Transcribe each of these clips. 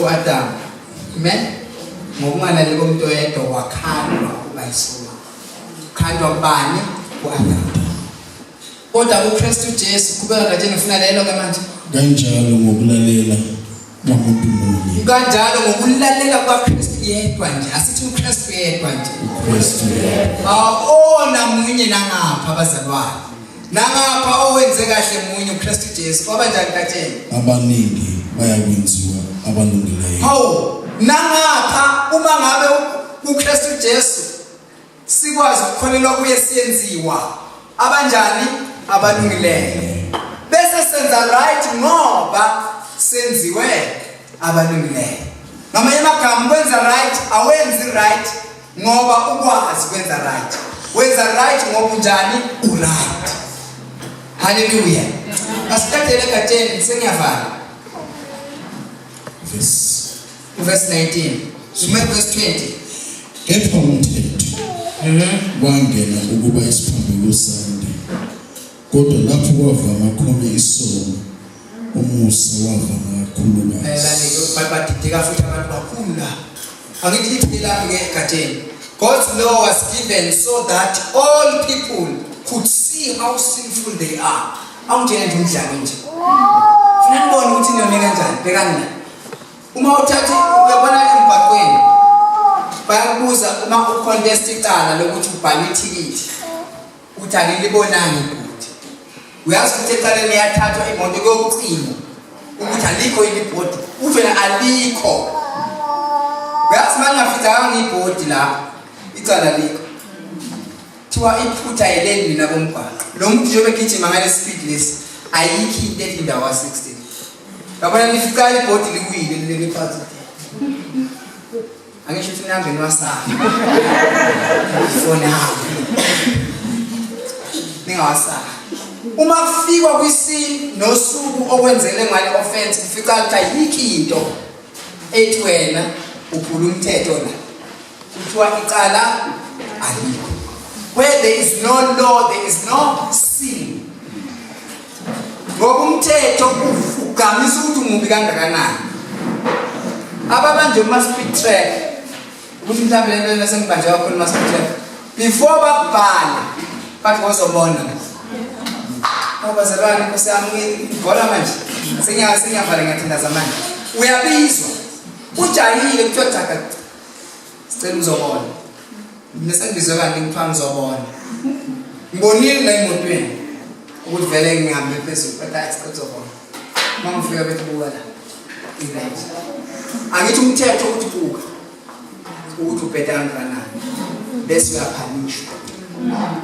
uAdamu amen ngokungalali komuntu oyedwa wakhandwa ukuba yisona khandwa kubani uAdamu kodwa kuKristu Jesu kubeka kanje ngifuna lelo ke manje kanjalo ngokulalela kwamuntu munye kanjalo ngokulalela kwaKristu yedwa nje asithi uKristu yedwa nje uKristu yedwa awona munye nangapha abazalwane Nangapha owenze kahle munye uKristu Jesu kwaba njani katsheni? Abaningi bayakwenziwa abalungileyo. Hawu nangapha uma ngabe uKristu Jesu sikwazi ukukholelwa kuye siyenziwa abanjani abalungileyo. Bese senza right ngoba senziwe abalungileyo. Ngamanye amagama kwenza right awenzi right ngoba ukwazi kwenza right wenza right ngoba unjani uright haleluya asithathele egatsheni sengiyavala verse 19 sume verse 20 kepha umthetho mhm. wangena ukuba isiphambulusa Kodwa lapho kwavama khona isono, umusa wavama kakhulukazi. Lalani-ke ukuba badideka futhi abantu bakhulu la. Angithi liphinde lapho-ke egatsheni. God's law was given so that all people could see how sinful they are. Awungitshele nje umdlalo nje. Funa nibone ukuthi niyone kanjani. Bhekani la. Uma uthatha uyabona emgwaqweni bayakubuza uma ucontest icala lokuthi ubhale ithikithi Uthi anilibonanga ibhodi. Uyazi ukuthi eqaleni yathathwa imoto kokucingo ukuthi alikho yini ibhodi. Uthi wena alikho. Uyazi uma ngingafidzakanga ibhodi la icala likho. Thiwa iphutha yeleni mina bomgwaqo. Lo muntu njengoba egijima ngale speed lesi ayikho into ethi indawo ka 16. Yabona nifica ibhodi likwile leli phansi. Ake shuthi ngihambe ngiwasaba. For now. Ningawasaba. Uma kufikwa kwisini nosuku okwenzele ngale offense kufica ukuthi yikho into ethi wena uphula umthetho la. Kuthiwa icala alikho. Where there is no law, there is no sin. ngoba umthetho ugqamisa ukuthi umubi kangakanani ababanje uma-speed track ukuthi mhlawumbe le nto nasengibanje kakhulu uma-speed track before bakubhale bathi ngozobona obazalwane nkosi yami ngibhola manje sengiyavale ngathandaza manje uyabizwa ujahile kuthiwa jaga sicela uzobona mina sengizwe kanti ngipha ngizobona ngibonile la emotweni ukuthi vele ngihambe phezulu kodwa hayi sicela uzobona uma ngifika bethi buka la event angithi umthetho ukuthi buka ukuthi ubheda kangakanani bese uyaphanishwa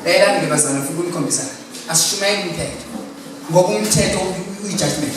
layela ndibazana futhi unikhombisa asishumayeli umthetho ngoba umthetho uyi-judgment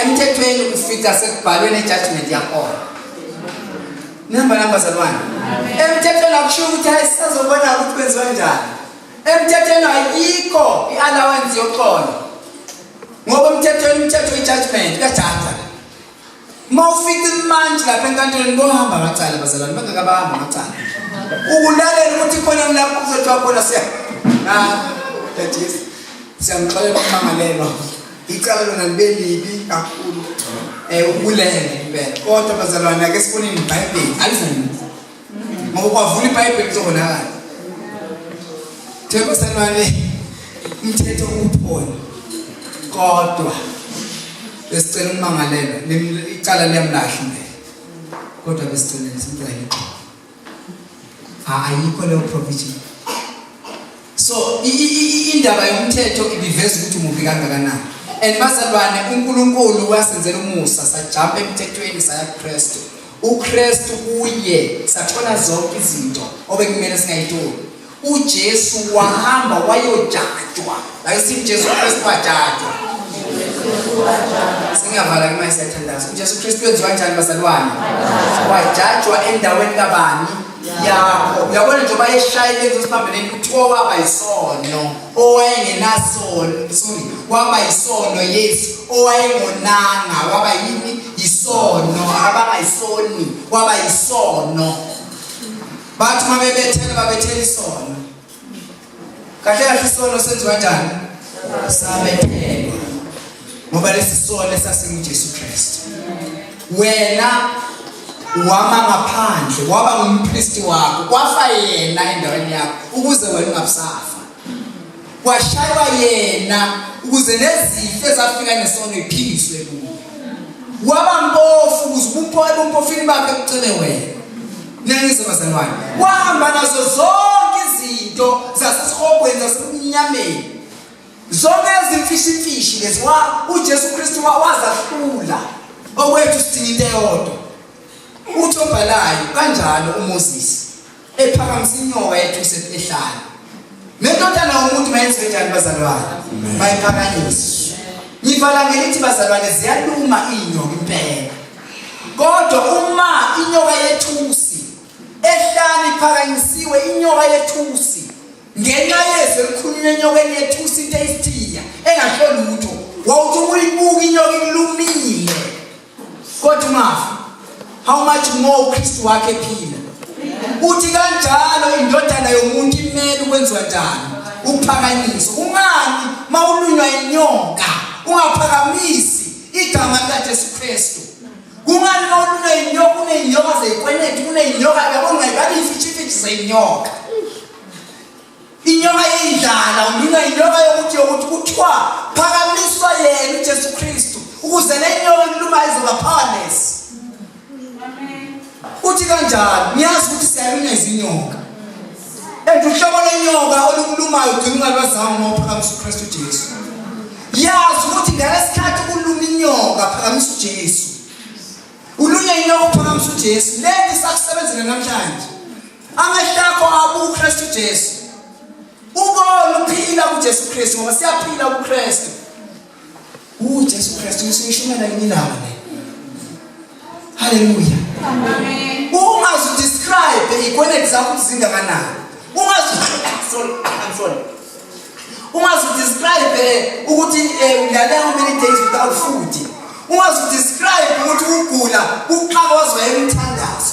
emthethweni ukufika sekubhalwe nejudgment yakhona nihamba nami bazalwane emthethweni akushiwo ukuthi hayi sisazobona ukuthi kwenziwa njani emthethweni ayikho i-allowance yoxolo ngoba emthethweni umthetho we-judgment kajaja uma ufika imantshi lapha enkantolweni bohamba amacala bazalwane bangakabahamba amacala ukulalela ukuthi khona kulapho kuzothiwa khona siya ah, siyamxolela umangalelwa icala lona libe libi kakhulu um ubulele impela kodwa bazalwane ake siboneni ibhayibheli alizanisa ngoba kwavula ibhayibheli kuzobonakala themba sanwane umthetho uphona kodwa besicela ummangalelwa icala liyamlahla impela kodwa besicela simcela ixola ayikho leyo provision so indaba yomthetho ibiveza ukuthi umubi kangakanani and bazalwane uNkulunkulu wasenzela umusa sajumpa emthethweni saya kuKristu uKristu kuye sathola zonke izinto obekumele singayitoli uJesu wahamba wayojajwa like sithi uJesu Kristu wajajwa singavala kuma sethandazo uJesu Kristu wenziwa kanjani bazalwane wajajwa endaweni kabani yakho uyabona nje bayeshayile ezosibambeleni kuthiwa waba yisono owayengenasono sorry waba yisono yesu owayengonanga waba yini yisono abangayisoni waba yisono bathi uma bebethela babethela isono kahle kahle isono senziwa njani sabethelwa ngoba lesi sono esasingujesu kristu wena wama ngaphandle waba ngumpristi wakho kwafa yena endaweni yakho ukuze wena ungabusafa Kwashaywa yena ukuze nezifo ezafika nesono iphingiswe kuye. Waba mpofu ukuze ubumpofu ebumpofini bakhe kucele wena. Niyangizwa bazalwane. Wahamba nazo zonke izinto zasesihogweni zasemnyameni. Zonke izimfishimfishi lezi uJesu Kristu wazahlula okwethu sidinga into eyodwa. Uthi obhalayo kanjalo uMoses ephakamisa inyoka ethuse ehlala nendodana yomuntu mayenziwe njani bazalwane mayiphakanyiswe ngivala ngelithi bazalwane ziyaluma iy'nyoka impela kodwa uma inyoka yethusi ehlani iphakanyisiwe inyoka yethusi ngenxa yezwi elikhulunywa enyokeni yethusi into eyisithiya engasho lutho wawuthi uyibuka inyoka ilumile Kodwa mafu how much more Kristu wakhe phila. Uthi kanjalo indodana yomuntu imele ukwenziwa njani? Ukuphakanyiswa. Ungani mawulunywa inyoka ungaphakamisi igama likaJesu Kristu. Kungani mawulunywa inyoka kuneyinyoka zeyikweneti kuneyinyoka yabo ngayibani ifithi ifithi zeyinyoka. Inyoka yindlala, unyunywa inyoka yokuthi yokuthi kuthiwa phakamiswa yena uJesu Kristu ukuze le nyoka iluma izoba powerless. Uthi kanjani? Niyazi ukuthi siyalunywa izinyoka. And uhlobo lenyoka olukulumayo ugcina ungalwazanga uma uphakamisa uKristu Jesu. Yazi ukuthi ngalesikhathi kuluma inyoka phakamisa uJesu. Ulunywa inyoka uphakamisa uJesu. Lento isakusebenzela namhlanje. amehlo akho akuKristu Jesu ubona uphila kuJesu Kristu ngoba siyaphila kuKristu uJesu Kristu usishumela yini laba le haleluya amen ungazi describe ikwenethi zakho kuzingakanani ungazi sorry i'm sorry ungazi describe eh, ukuthi eh, udlale how many days without food ungazi describe ukuthi ugula uqhaka wazwa emthandazo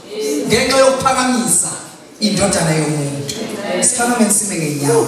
ngenxa yokuphakamisa indodana yomuntu siphakameni sime ngenyawo